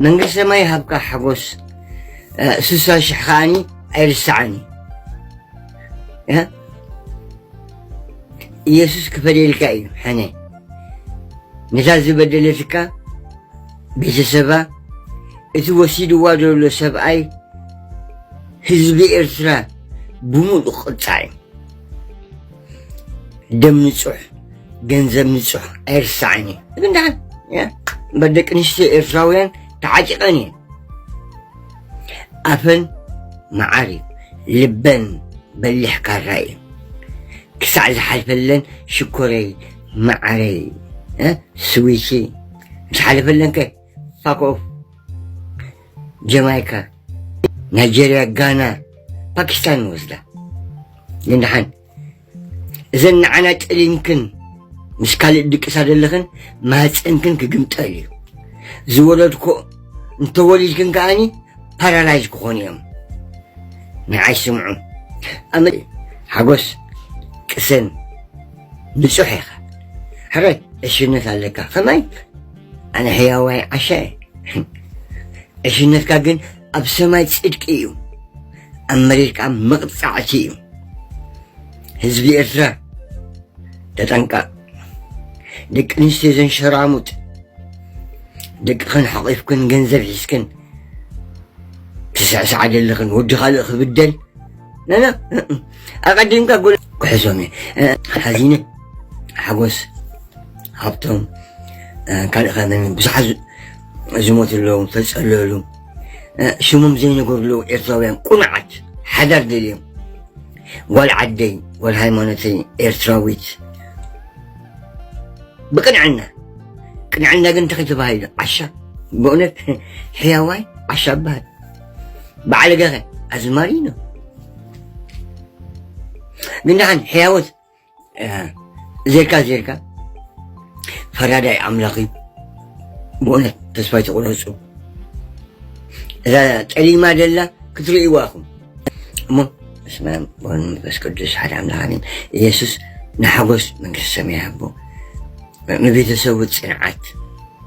መንግስቲ ሰማይ ይሃብካ ሓጎስ ስሳ ሽሕ ከዓኒ ኣይርሳዓኒ ኢየሱስ ክፈደልካ እዩ ሕነ ነታ ዝበደለትካ ቤተሰባ እቲ ወሲድዋ ዘሎ ሰብኣይ ህዝቢ ኤርትራ ብምሉእ ቅፃዕ እዩ ደም ንጹሕ ገንዘብ ንጹሕ ኣይርሳዕን እዩ ግን ደሓን እምበር ደቂ ኣንስትዮ ኤርትራውያን ተዓጢቐን እየን ኣፈን መዓር እዩ ልበን በሊሕ ካራ እዩ ክሳዕ ዝሓልፈለን ሽኮረይ መዓረይ ስዊቲ ዝሓልፈለን ከ Fuck off. ጀማይካ ናይጀርያ ጋና ፓኪስታን ንወስዳ ግን ደሓን እዘን ንዓና ጥሊንክን ምስ ካልእ ድቅሳ ዘለኽን ማህፀንክን ክግምጠል እዩ ዝወለድኮ እንተወሊድክን ከዓኒ ፓራላይዝ ክኾኑ እዮም ንዓይ ስምዑ ኣመ ሓጎስ ቅሰን ንፁሕ ኢኻ ሕራይ ዕሽነት ኣለካ ከማይ ኣነ ሕያዋይ ዓሻ እየ ዕሽነትካ ግን ኣብ ሰማይ ጽድቂ እዩ ኣብ መሬት ከዓ መቕጻዕቲ እዩ ህዝቢ ኤርትራ ተጠንቀቕ ደቂ ኣንስትዮ ዘን ሸራሙጥ ደቅኽን ሓቒፍክን ገንዘብ ሒዝክን ትስዕስዓ ዘለኽን ወዲ ካልእ ክብደል ነነ ኣቐዲምካ ጎል ክሕዞም እየ ሓዚነ ሓጎስ ሃብቶም ካልእ ከ መን ብዙሓት ዝሞት ኣለዉ ተፀለሉ ሽሞም ዘይነገርሉ ኤርትራውያን ቁኑዓት ሓዳር ደልዮም ጓል ዓደይ ጓል ሃይማኖተይ ኤርትራዊት ብቅንዕና ቅንዕና ግን እንታይ ተባሂሉ ዓሻ በእውነት ሕያዋይ ዓሻ በሃል በዓለገኸ ኣዝማሪ እዩ ግን ደሓን ሕያወት ዜርካ ዜርካ ፈራዳይ ኣምላኽ እዩ ብእውነት ተስፋ ይተቑረፁ እዛ ጠሊማ ደላ ክትርእይዋ ኢኹም እሞ በስመ አብ ወወልድ ወመንፈስ ቅዱስ ሓደ ኣምላኽ ኣሜን ኢየሱስ ንሓጎስ መንግስቲ ሰማይ ሃቦ ንቤተሰቡ ፅንዓት